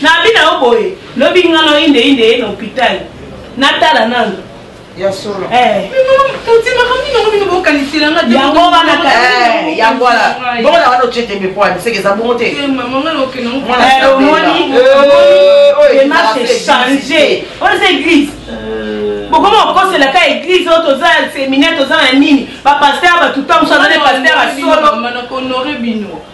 Na bina yo boye lobi nga na inde inde ye na hopital na tala nanu. Ya solo. Eh. Toti makambo nini yango bino bokanisela nga te. Yango wana ka eh yango wana. Bongo na wana otie tembe po ani seke eza bongo te. Eh maman nga loke na mwana. Eh omoni. Eh oyo démarche changer. Oyo c'est église. Euh. bokoma kokosela ka église oyo toza ya séminaire toza na nini bapaster bato ntango mosusu aza nde paster ya solo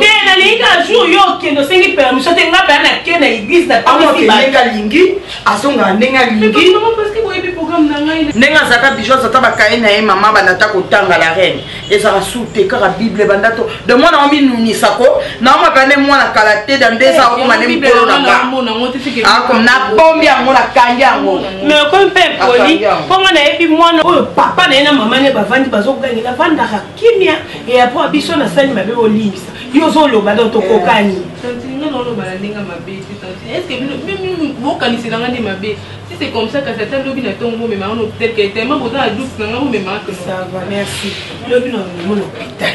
te nalingi kaka jour yo okende osengi permission te nga baya nake na eglise naamokendenge alingi azongaka ndenge alingi ndenge azalaka bijo azata bakaye na ye mama bandata kotanga la reine ezalaka su te kaka bible banda to de mwana yango minunisa ko naomaka nde mwana kala te da nde eza okoma nde mokolo na nga nabombi yango nakangi yango mais okomi mpe mpoli mpo nga nayebi mwana oyo papa na ye na mama ne bavandi bazogangela vandaka kimia et après biso na sani mabe bolimbisa yo ozoloba donc tokokani tantine nga naoloba na ndenge mabe te tantine est ce que bino mimi bokanisela nga nde mabe si c'est comme ça kasi ata lobi na ntongo bomema ono peut-être que tellement boza na doute na nga bomema ça va merci lobi na omona hôpital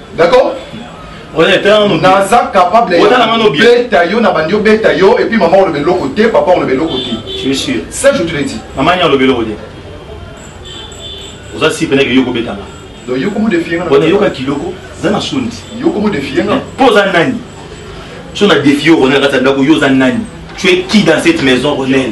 d'accord naza capable beta yo na bandi obeta yo epuis mama oloba eloko te papa oloba eloko te ça je te le dis mama ni aloba eloko te oza si peneke yo kobetanga donc yo komodefienga yoka kiloko oza na soni yo komodefienga mpo oza nani so na defie yo ronel kati ya ndako yo oza nani tu es qui dans cette maison ronel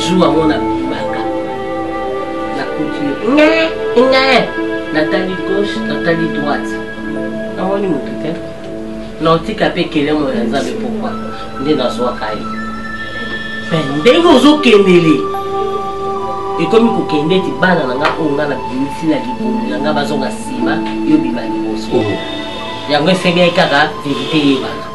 jour yango nabimaka nakuti nge nge natali gauche natali droite namoni motu te naotika mpe kelemo ya nzambe pokwa nde nazwaka ye me ndenge ozokendele ekomi kokende ete bana na nga oyo nga na bimisi na libulu na nga bazonga nsima yo bima liboso oh. yango esengeli kaka verite eyebana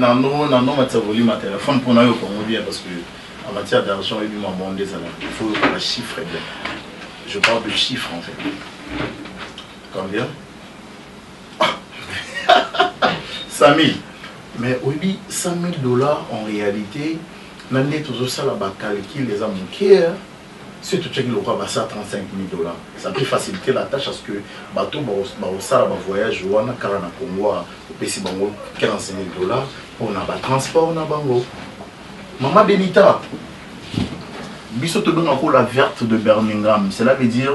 nano nano matisa volume ya telefone mpo nayoka yango bien parce que en matière d'argent ebi mwa monde ezala il faut yoka ba chiffre bien je parle de chiffre en fait combien Samy, mais oyebi 100 000 dollars en réalité na nde tozosala bacalcul eza moke hein. si totyaki lokola basala 35 000 dollars ça peut faciliter la tâche parce que bato bakosala bavoyage wana kaka na congo ah, opesi bango 15 000 dollars mpona batransport na bango mama benita biso tobengaka la verte de birmingham cela veut dire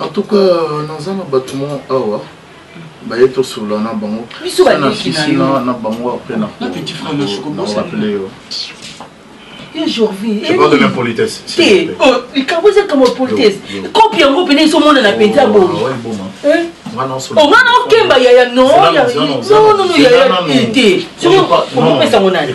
en tout cas naza na bato moko awa baye tosolola na bango na bango apres nakoappele yo likambo eza kama politesse kopi yango mpena ezomonana mpenza oh, bomi omwana okemba yaya nonono yaya te soki okopesango nani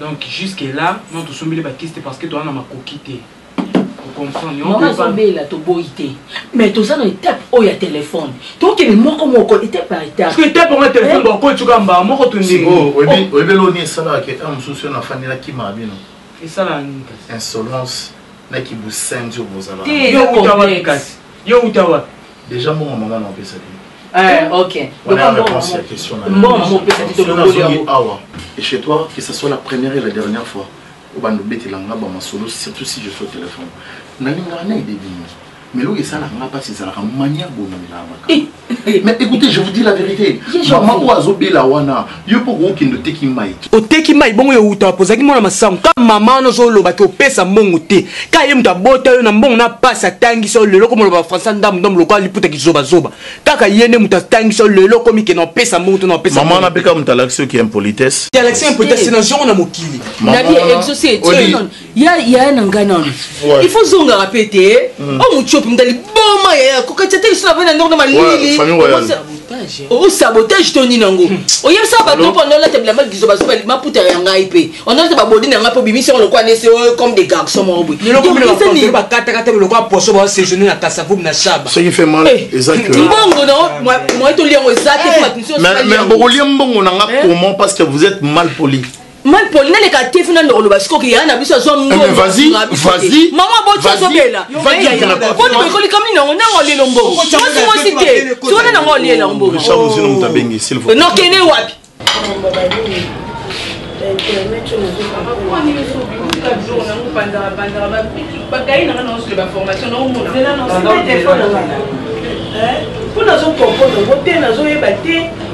Donc jusque là non tosombeli ba kiste parce que toza na makoki te mama azobela toboyi te mais toza na etape oyo ya telefone tokende moko moko etape par etapeetape yango ya telefone bakocoka mbaa moko toyebeli oni esalaka ke a mosusu yo nafandi nakima bino esalaka nini kasi insolence na kibusenzi oyo bozalaka yo uta wapi kasi yo uta wapi Deja mbongo mama na opesa ki. Eh, ok. Voilà la réponse à la question. Mbongo mama opesa ki to bongoli yango. Awa, et chez toi, que ce soit la première et la dernière fois, obanda obetela nga ba masolo, surtout si je suis au téléphone. Nalingaka na edebi nyonso. Mais l'eau est ça, la passe, c'est la manière bonne. Mais écoutez, je vous dis la vérité. Maman Oazo Belawana, yo mpo okokende oteki mai te oteki mai bongo yo outa wapi ozalaki mwana masango ka mama wana ozoloba te opesa mbongo te ka ye moto abota yo na mbongo na pasi atangisa yo lelo okomi oloba bafrançais ndambu ndambu lokola liputa kizobazoba kaka ye nde moto atangisa yo lelo okomi kena opesa mbongo to na opesa mama wana mpe kaka moto alakisi yo ki impolitesse alakisi impolitesse na zongo na mokili ya yaya na ngai nano il faut zongaka mpe te hmm. o oh, mutiopi mdali boma yaya kokatisa te lisona vana ndongo na malili o sabotage to nini yango hmm. oyebisa bato mpo onolata bilamba lizo bazo maputa ya ngai mpe onolata babodi na ngai mpo obimisi yango lokola nese oh, comme des garçons moko boye bakataka te lokola poso basejourne na kasavubu na shaba eh, mbongo na moye tolia yango eza te eh. bokolia mbongo na ngai eh. comment parce que vous êtes mal poli mal poli naleka te funa ndoko loba sikoki yaya na biso azwa eh, mbonmama boti azobela boni boyekoli kami nango nango alie lombongo mwasi mwasi te sikona nango alie lombongo nokende wapi mpo nazokompono ngo te nazoyeba te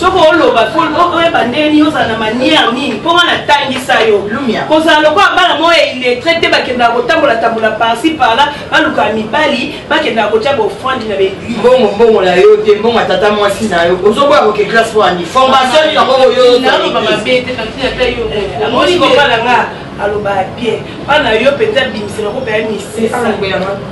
soki oloba fo oyeba ndenge nini ozala na manière nini mpo nga natangisa yo kozala lokola bana moko ya illettre te bakendaka kotambolatambola parci parla balukaka mibali bakendaka kotya baofrande na baeglise mbongo mbongo na yo te mbongo ya tata mwasi na yo ozoboya koke classe mpo ani formation nini yango oyoaloba mabe te ata yo omoni kobala nga alobaka bien mpo na yo mpenza bimisela kopaya misesa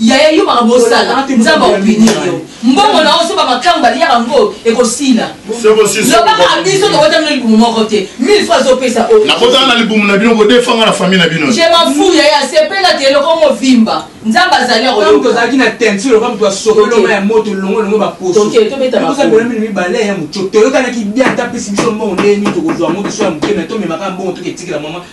yaya yo makambo osala nzambe aopinir yo mbongo na oso bamakango baliyaka yango ekosila lobaka biso tokotami na libumu moko te mille fois azopesa nakotala na libumu na bino kodefanga na famille na bino je mafu yaya asepela te eloko movimba nzambe azali akoyokazalaki na teinture oka moto asokoloma ya moto longo longo baposoelamino mibale ya moco toyokanaki bia ata pesi biso mbongo ndenge nini tokozwa yango biso ya mokeme tomemaka mbongo toketikela mama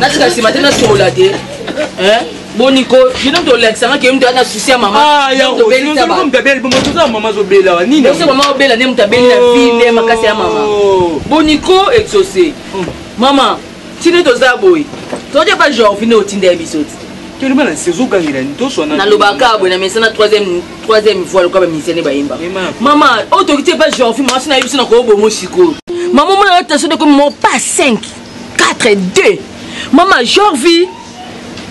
natika nsima te nasola te boni ko bino tolakisanga ke mutu ana susi ya mamaobelisa mama azobela nini oso mama obela nde moto abeli na vie nde makasi ya mama boni ko exauce mama Tino toza boye. Toje pa Jorvi nde otinda biso ti. Tino bana sezo gangela ni toso na. Nalobaka boye na mesana 3e 3e voix lokola ba musiciens bayemba. Mama, o toki te pa Jorvi mama sina biso na ko bomo siko. Mama mona na taso de ko mo pa 5 4 2. Mama Jorvi.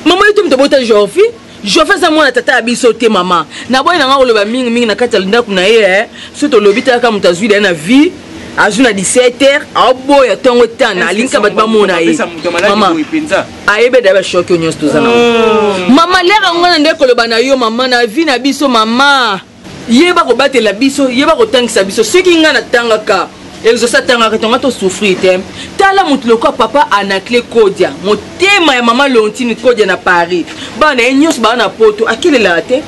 Mama yote mtobota Jorvi. jofe aza mwana tata ya biso te mama naboyi na ngai koloba mingi mingi na kati ya ndako na ye eh. so tolobi talaka moto azwi daye na vie azwi na 17 heure aoboya ntongo etana alingisa bato bamona ye mama ayebe daye bashoki oyo nyonso toza na oh. mama lere yango na nde koloba na yo mama na vie na biso mama yeba kobatela biso yeba kotangisa biso soki ngai natangaka exauce atangaka tonga tosouffrir te tala moto lokola papa anacle kodia motema ya mama leontine kodia na paris bana ye nyonso baa na poto akelelaka te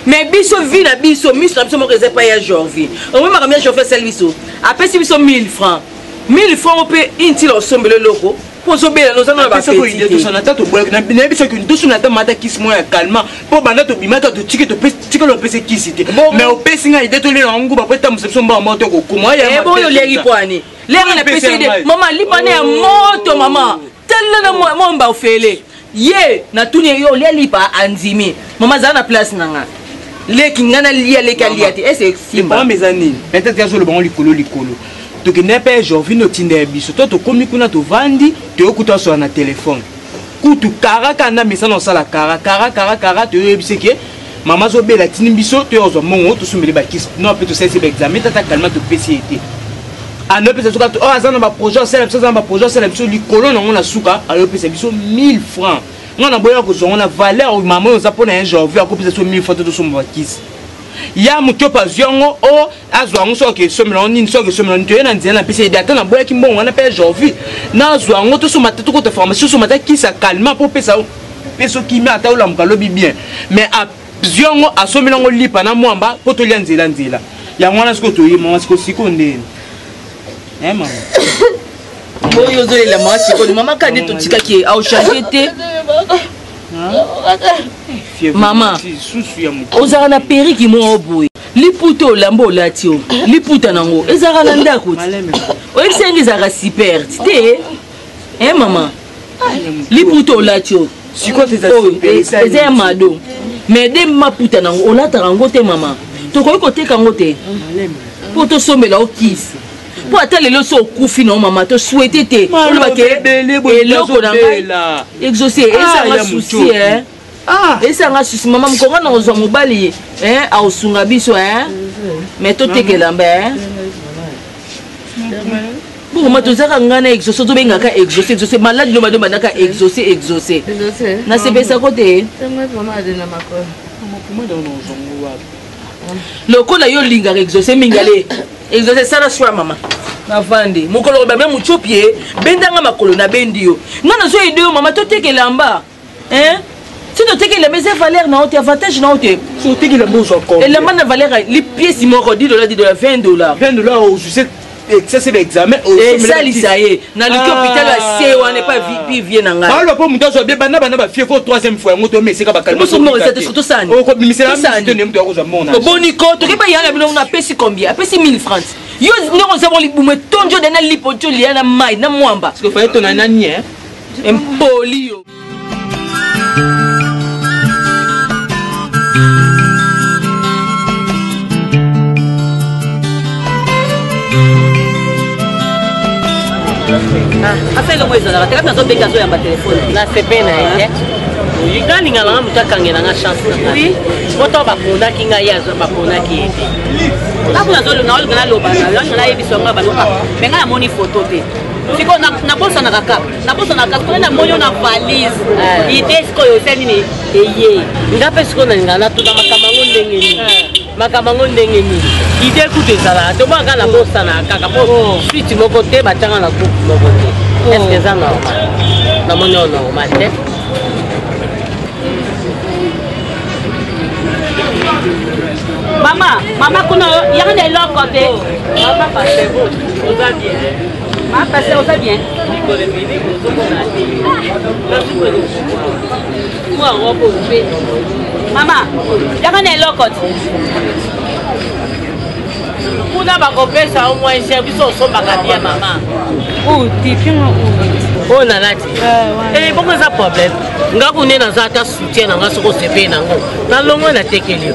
me biso vi na biso miso na biso moko eza epai ya jorvi omoi makambo ya jorvi asali biso apesi biso 1000 francs 1000 francs mpe intila osombela eloko mpo ozobela noza na bapesona ata toboyaki nayebi soki tosuna ata mata kisi moko ya calma mpo banda tobimaka totiki tikala opesi kisi te mais opesi ngai ide tolela yango nguba mpo etambwisa biso mbaa moko tokokoma oyo olengi pwani lenga na pesi ide mama lipane ya moto mama talela na momba ofele ye natuni ye yo olia lipa andimi mama azala na place na nga leki nga nalia leki alia te ese simba eza nini peut-être azoloba ngo likolo likolo tokende mpe jorvine otinda ya biso to tokomi kuna tovandi toyokuta asola na telefone kutu kara kanda mesana osala kara kara kara kara toyoyebise ke mama azobela atindi biso toya kozwa mbongo tosombele bakisi no mpe tosalisi baexame tata kalima topesi ye te anopesa biso kaka oyo oh, aza na baprojet asala biso aza na baprojet asala biso likolo nango na suka ayopesa biso 1000 francs ngai naboyaka kozwa ngo na valeur oyo mama oyo oza mpo na ye janvier akopesa biso 1000 francs te tosomba bakisi ya motopa azwi yango o oh, azwa yango soki esombela yango nini soki esombela nini toye na nzela na pesa ede ata naboyaki mbongo wana mpe ya janvier nazwa yango tosomba te tokota pharmacie tosomba ta kisa calma mpo opesa peso kimia ata olamuka lobi bien mais azwi yango asombeli yango lipa na mwamba mpo tolya nzela nzela yango wana sikoyo toye mama sikoyo sikoyo ndeni eh, mama oyo ozolela mama sikoyo mama kade totikaki ye aochange te mama ozalaka na periki moko boye liputa olamba olati o liputa nango ezalaka na ndako ti oyebisangi ezalaka siperte te e eh, mama liputa olati oyo eza ya mado mais de maputa nango olataka yango te mama tokoki koteka yango te mpo tosombela yo kisi mpo ata lelo so okufi na mama to swete te olobake eloko na ngai exauce ah, ezanga susi Ah. esa nga susi mama mokonga na kozwa mobali ye eh, aosunga biso eh. me totekelamba eh. bokoma tozaka ngai na exauce tobengaka exauce exauce maladi loba nde bandaka exauce exauce nasepesa ko te lokola yo olingaka exauce mingi ale exauce sala swa mama navandi mokolo kobamia motiopi ye bendanga makolo nabendi yo ngai nazoyede yo mama totekelamba hein soki oteki elamba eza valeur na yo te avantage na yo te oteki elamba ozwa elamba na valeur ya lipiesi moko 10 dola 10 dola 20 dola 20 dola ozuse excès ba examen esalisa ye naluki hôpital ya se wana epa vipi vie na ngai baloba mpo moto azwa bie bana bana bafie ko troisième fois yango toyeme esika bakalioboni ko toke bayanga bino ngo apesi combien apesi 1000 francs yo ndenge oza mo libumu etondio dana lipo tio liya na mai na mwamba impoli yo asa elongo ezalaka te kati nazobeki azoyamba telefone na sepe na ye nga lingala nga moto akangela nga chance na nga moto baponaki ngai ye baponaki ye te ntango nazolingaloba nayebisa nga baloba me ngai namoni foto te siko nabosanaka kaka nabosanaka sikoyo namoni na valise eh. ide sikoyo eza nini eye nga mpe sikoyo nalinga natuna makambo yango ndenge nini eh. makambo yango ndenge nini ide kutu ezalaka tomonaka nabosanaka kaka mpo oh. switi moko te batyanga na groupe moko te oh. eske eza normal namoni oyo normal te mama mama kuna yanga na eloko te mama pasebo oza bien Ma pasteur oza bien mikolo ebele kozomona te nazukelo mwa robe ope mama yaka na eloko te kuna bakopesa yo mwa cher biso osombaka bia mama utifinga uti oyo nalati eh, bongo eza problème nga kune naza ata soutien na nga soki osepeli nango nalongo natekeli yo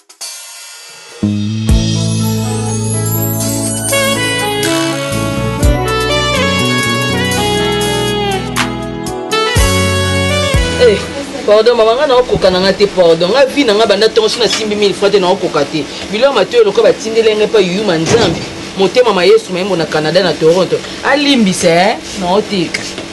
pardon mama ngai naokoka na ngai te pardon ngai vi na ngai banda ntongo so nasimbi mille fois te naokoka te biloko matoyo lokola batindeli ngai mpa yuma nzambe motema ma yesu mayembo na canada na toronto alimbisa e eh? naoteka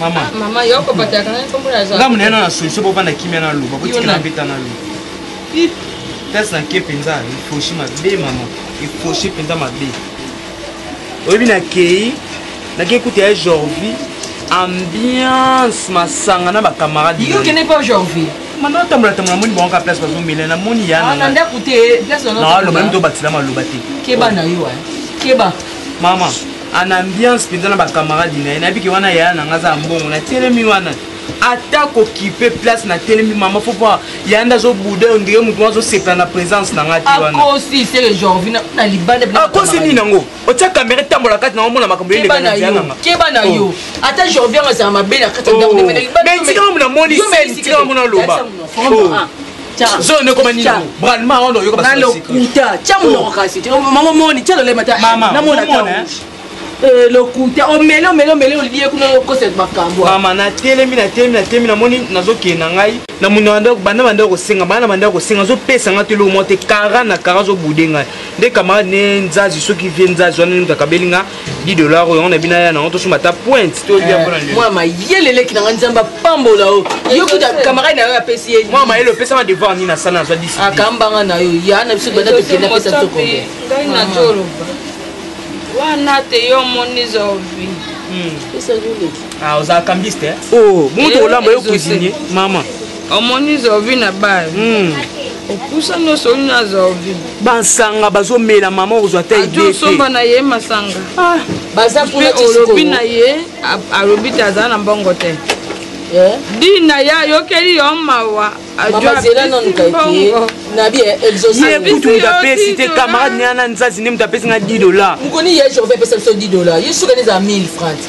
mama mama yo ko pata kana kombo ya jaco ngamu nena na solution bo bana kimia na loba botikela mbeta na loba place na ke mpenza efoshi mabe mama efoshi mpenza mabe oyebi nakei nakei kuta ya jorvi ambiance masanga na bacamarade yo kende mpe jorvi mama otambola tambola moni bango ka place bazomela na moni yanaloba ah, mito obakisela maloba te keba na yo eh. keba mama en ambiance mpenza na bacamarade na ye nayebi ke wana yaya na ngai aza ya mbongo natelemi wana ata kokipe place natelemi mama fo mpo yaya nde azobuda oyo ndenge motu azosepela na présence na ngai te wanakosi seke jorvina na libanda akosi nini yango otya kamera etambola kati na omona makambo yeleka na nzela nanga keba na yo oh. ata jorvin azala mabe na kati ya ndako oh. mais tika mamona moni seni tika mamona loba zolo nde ekoma nini bralma wana oyoka balokuta tya monoko kasi mama moni tya lolema ta namona ta Eh, lokuta omele omele omele olie kuna okosela makambo mama natelemi natelemi natelemi namoni nazokende na ngai na monanda banda banda kosenga bana banda kosenga azopesa ngai to eloko moko te kara na kara azobude ngai nde kamarade ne nzazi soki vie nzazi wana nini kakabeli ngai 10 dollars oyo yango na bino aya nango tosomba ata pointe toyamwa eh, mayele leki na ngai nzambe apambola yo yo kuta camarade na yo apesi ye mwa mayele opesama devoir nini asana azwa disi akambanga na yo ya na biso banda tokende apesa biso kombe ngai na toloba wana te yo omoni zovi hmm. ah, oza cambiste eh? oh, bongo tokolamba yo eh, cuisinier mama omoni zovi na bale hmm. opusa nyonso olino ya zovi bansanga bazomela mama okozwa ta idesomba na ye masanga ah. baza kuna olobi na ye alobi te azala na mbongo te eh? dina ye ayokeli yo mawa ajwabongo kutu moto apesi te camarade nea na nzazi nde moto apesi nga 10 dollar mokoni ye jour apesa biso 10 dollar ye suka nde ezala 1000 francs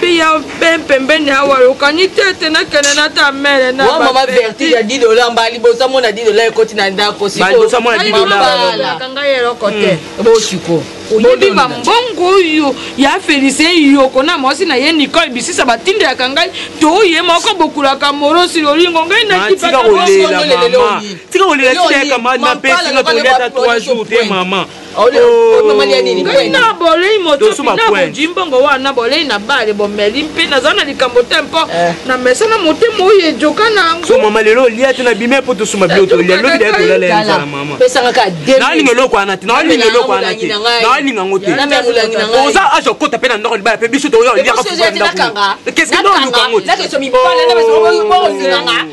biya mpe mpembeni awa yokani te ete nakende na ta mere na mwa mama vertu ya 10 dola mbala liboso amona 10 dola ekoti na ndako sikoyoalibaka ngai eloko te hmm. bosiko oyebi bambongo oyo ya felice yoko na mwasi na ye nicole bisisa batindelaka ngai to ye moko bokulaka morosi lolingo ngai nakipatika kolela mama tika kolela tika ya kamani na mpe tika kolela ta 3 jours te mama na bolei motopi na bojui mbongo wana bolei na bale bomeli mpe nazala na likambo te mpo eh. na mesa na motema oyo ejoka na yangomama lelo olia te na bima mpo tosuma bilo tolia lobi daya tolala ya nzala mama nalinga eloko wana te nalinga eloko wana te nalinga yango te oza azo kota mpe na ndako libala mpe biso toyoliaka fuka ndako keske naoluka yango te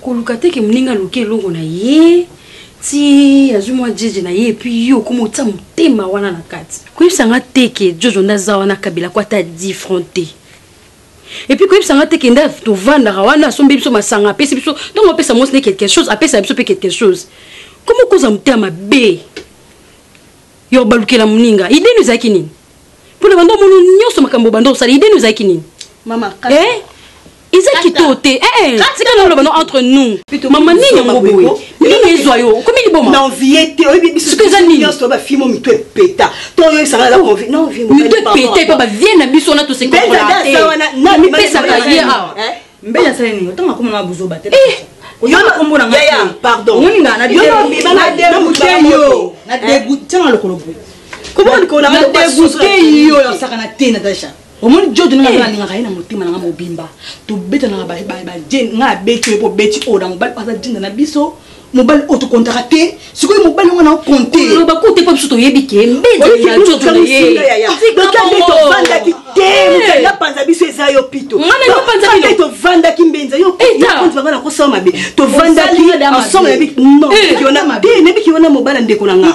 koluka te ke moninga aluki eloko na ye ti azwi mwa jeje na ye epuis yo okoma otia motema wana na kati koyebisa nga te ke jojo nde aza wana kabila ko ata different te epuis koyebisa nga te ke nde tovandaka wana asombi biso masanga apesi biso ntango apesa mwasi nde quelque chose apesa biso mpe quelque chose koma okoza motema mabe ya obalukela moninga ideno ezalaki nini mpo na banda omono nyonso makambo banda osala ideni ozalaki nini mama eh? eza kitoo te eh, eh. tika noloba no entre nous mama nini yango boye nini ezwa yo okomi libomasoki eza ninimito epeta epa bavie na biso wana tosekoamipesaka ye awa mbele asali nini otango akoma na buzoba te eh! oyona kombo na ngai pardon omoni nga na degoute yo na degoute tyanga lokolo boye na degoute yo yasaka na te natasha omoni jodo nanga eh. alingaka ye na motema nanga mobimba tobetanaka baje ngai abeti oyo mpo obeti oyo na mobali aza jinda na biso mobali oyo tokontaka te sikoyo mobali yango nao konteloba kute mpo biso toyebi ke mbenzaatovandaki te mokanga panza biso eza yo pito tovandaki mbenza yoanga nakosala mabe tovandaki ensemble nayebi te nayebi ke wana mobala ndeko na nga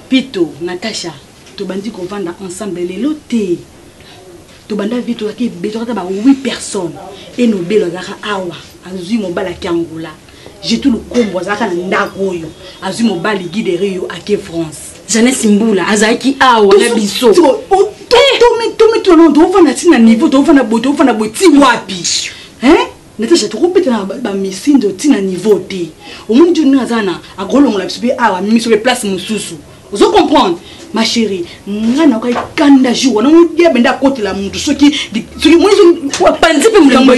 Pito, Natacha tobandi kovanda ensemble lelo te tobanda vie tozalaki ebele tozalaki ba 8 personnes et nobelo azalaka awa azui mobali ake angola jetu lukombo azalaka na ndako oyo azui mobali guide rio ake france jeannese mbula azalaki awa na biso tomituna nao toofanda ti na niveau toofanda boye toofanda boye ti wapi Natasha tokobeta na bamisindo ti na niveau te omoni joni ndenge aza na akolongola biso mpe awa amemi biso mpe place mosusu ozo comprendre ma chérie nga nayokai kanda jour wana ngo diabe nde akotela motu soki soki moisopanzi mpe molango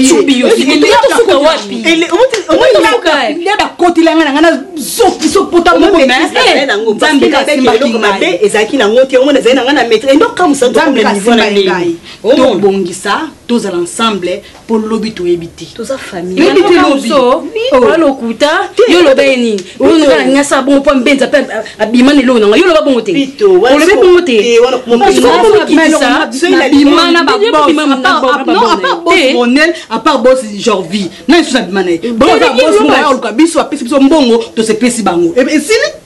bakotela nga na nga nazokisopota mokomabe ezalaki nango te omona ezali na nga na maître endokamosatobongisa tozala ensemble po lobi toyebi te toza familleyebi te lobi oa lokuta yo oloba ye nini oyonoka na nyasa bongo mpo mbenza mpe abima na eloko na ngai yo oloba bongo te olobi bongo te apart bos jorvi na lisusu abima na ye bongo oluka biso apesi biso mbongo tosepesi bango esili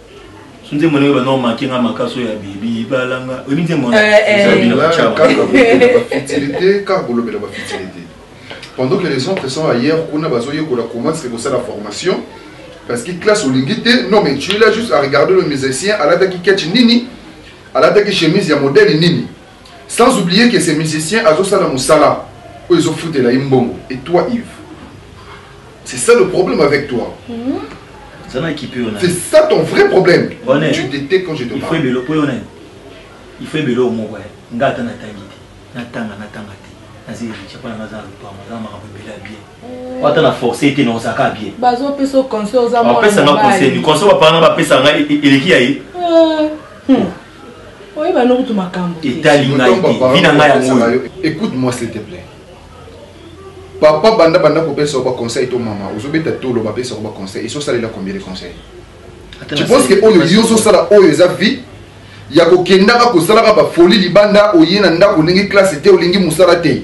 so nzembo ndenge bana omake nga makasi oyo ya bebi balanga oyebi nzembo wanafutilité kaka kolobela bafutilité pendant que les autres sont ailleurs kuna bazoyekola comment ce kosala formation parce que classe olingi te non mais tu es là juste à regarder le musicien alataki ketch nini alataki chemise ya modèle nini Sans oublier que ces musiciens azosala musala oyo ezofutela ye mbongo et toi Yves c'est ça le problème avec toi mm -hmm. C'est ça ton vrai problème. Bonnet. Tu t'étais quand je te parle. Il faut ebelo po yona. Il faut ebelo moko. Nga ata natangi te. Natanga natanga te. Nazi richa pa naza lupa maza makambo ebela bien. Mm. Wata na forcer te na osaka bien. Bazo pesa conseil aux amours. Ba pesa nga conseil. Conseil ba parents ba pesa nga eleki ya ye. Mm. Hmm. oyeba no kutu makambo etali ngai te bina ngai yango oyo écoute moi s'il te plaît papa banda banda kopesa ba conseil to mama ozobeta tolo bapesa ba conseil eso salela combien de conseil tu penses que oyo yo ozosala oyo eza vie ya kokendaka kosalaka bafoli libanda oye na ndako olingi classe te olingi mosala te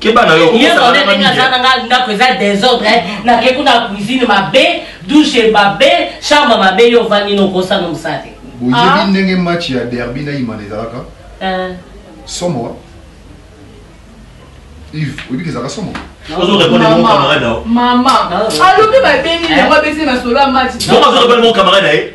keba na yo okosala na nini na nga ndako eza désordre eh. na ke kuna cuisine mabe douche mabe chambre mabe yo vandi no kosa no musate boyebi ah. ndenge match ya derby na imana ezalaka eh. somo wa Yves oyebi ke ezalaka somo ozo répondre mon camarade na yo mama ah. alobi babengi yango abesi masolo ya match ozo répondre mon camarade na ye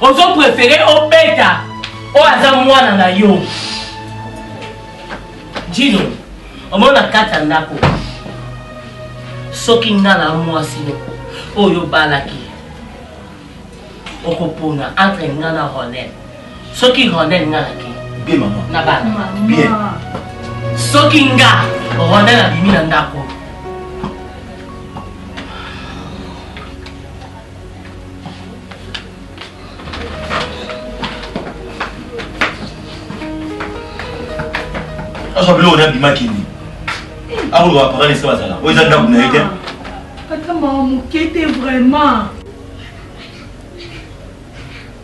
ozo prefere obeta oyo aza mwana na yo jino omoni na kati ya ndako soki nga na mwasi no oyo obalaki okopona entre nga na ronel soki ronel nga nake na bana soki nga ronel abimi na ndako azwa biloko na bima kini akoloba bapakana esika bazala oyo eza ndako na ye te ata mawa moke te vraiment